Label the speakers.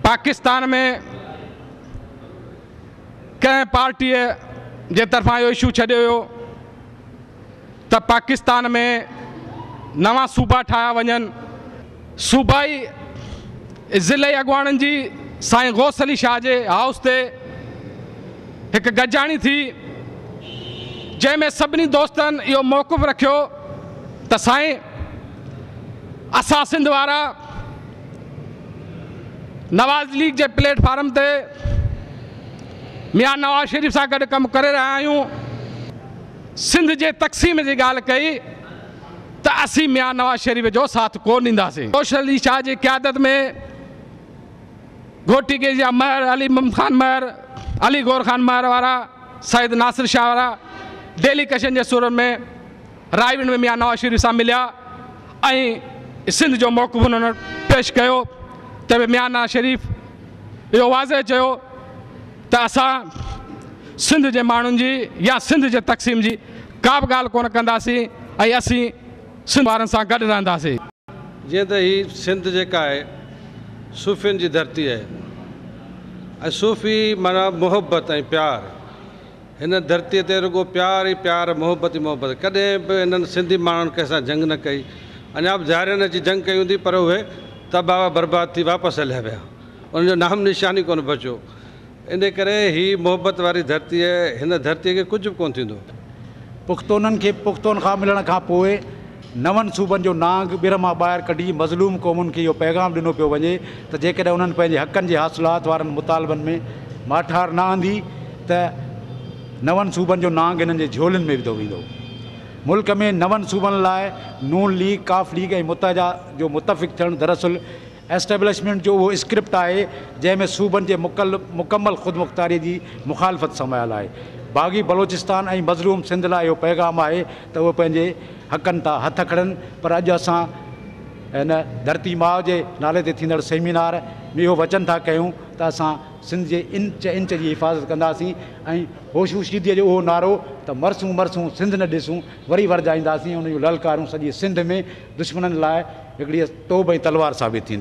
Speaker 1: پاڪستان ۾ ڪنهن پارٽيء جي طرفان اهو اشو ڇڏيو ويو ته پاڪستان ۾ نوان صوبا ٺاهيا وڃن، صوبائي ۽ ضلعي اڳواڻن جي سائين غوث علي شاهه جي هائوس تي هڪ گڏجاڻي ٿي، جنهن ۾ سڀني دوستن اهو موقف رکيو ته سائين! اسان سنڌ وارا نواز ليگ جي پليٽ فارم تي ميان نواز شريف سان گڏ ڪم ڪري رهيا آهيون سنڌ جي تقسيم جي ڳالهه ڪئي ته اسين ميان نواز شريف جو ساٿ ڪو ڏينداسين سوشل علي شاهه جي قيادت ۾ گهوٽي ڪيس جا مهر علي مم خان مهر علي گور خان مهر وارا سيد ناصر شاهه وارا ڊيلي ڪشن جي سورن ۾ رائيوند ۾ ميان نواز شريف سان مليا ۽ سنڌ جو موقف انهن وٽ پيش ڪيو ته به ميان نواز شريف اهو واضح چيو ته اسان سنڌ جي ماڻهن جي يا سنڌ جي تقسيم جي ڪا به ڳالهه ڪونه ڪنداسين ۽ اسين سنڌ وارن سان گڏ رهنداسين. جيئن ته
Speaker 2: هي سنڌ جيڪا آهي صوفين جي ڌرتي آهي ۽ صوفي معنيٰ محبت ۽ پيار. هن ڌرتيء تي رڳو پيار ئي پيار، محبت ئي محبت. ڪڏهن به هنن سنڌي ماڻهن ڪنهن سان جنگ نه ڪئي. اڃا به زهرين اچي جنگ ڪئي هوندي پر اهي تباهه و برباد ٿي واپس هليا ويا. انهن جو نام نشان ئي ڪونه بچيو. انهيء ڪري هي محبت واري ڌرتيء، هن ڌرتيء کي ڪجهه به ڪونه ٿيندو. پختونن
Speaker 3: کي پختونخواه ملڻ کان پوء، نون صوبن جو نانگ ٻر مان ٻاهر ڪڍي مظلوم قومن کي اهو پيغام ڏنو پيو وڃي ته جيڪڏهن انهن پنهنجي حقن جي حاصلات وارن مطالبن ۾ ماٺار نه آندي ته نون صوبن جو نانگ هنن جي جهولين ۾ وڌو ويندو. ملڪ ۾ نون صوبن لاء نون ليگ، ق ليگ ۽ متحده جو متفق ٿيڻ دراصل اسٽيبلشمينٽ جو اهو اسڪرپٽ آهي جنهن ۾ صوبن جي مڪمل خودمختاري جي مخالفت سمايل آهي. باغي بلوچستان ۽ مظلوم سنڌ لاء اهو پيغام آهي ته اهي پنهنجي حقن تان هٿ کڻن پر اڄ اسان هن ڌرتي ماء جي نالي تي ٿيندڙ سيمينار ۾ اهو وچن ٿا ڪيون ته اسان سنڌ جي انچ انچ جي حفاظت ڪنداسين ۽ هوشوشيدي جو اهو نعرو ته مرسون مرسون سنڌ نه ڏسون وري ورجائينداسين ان جون للڪارون سڄي سنڌ ۾ دشمنن لاء هڪڙي توب ۽ تلوار ثابت ٿينديون.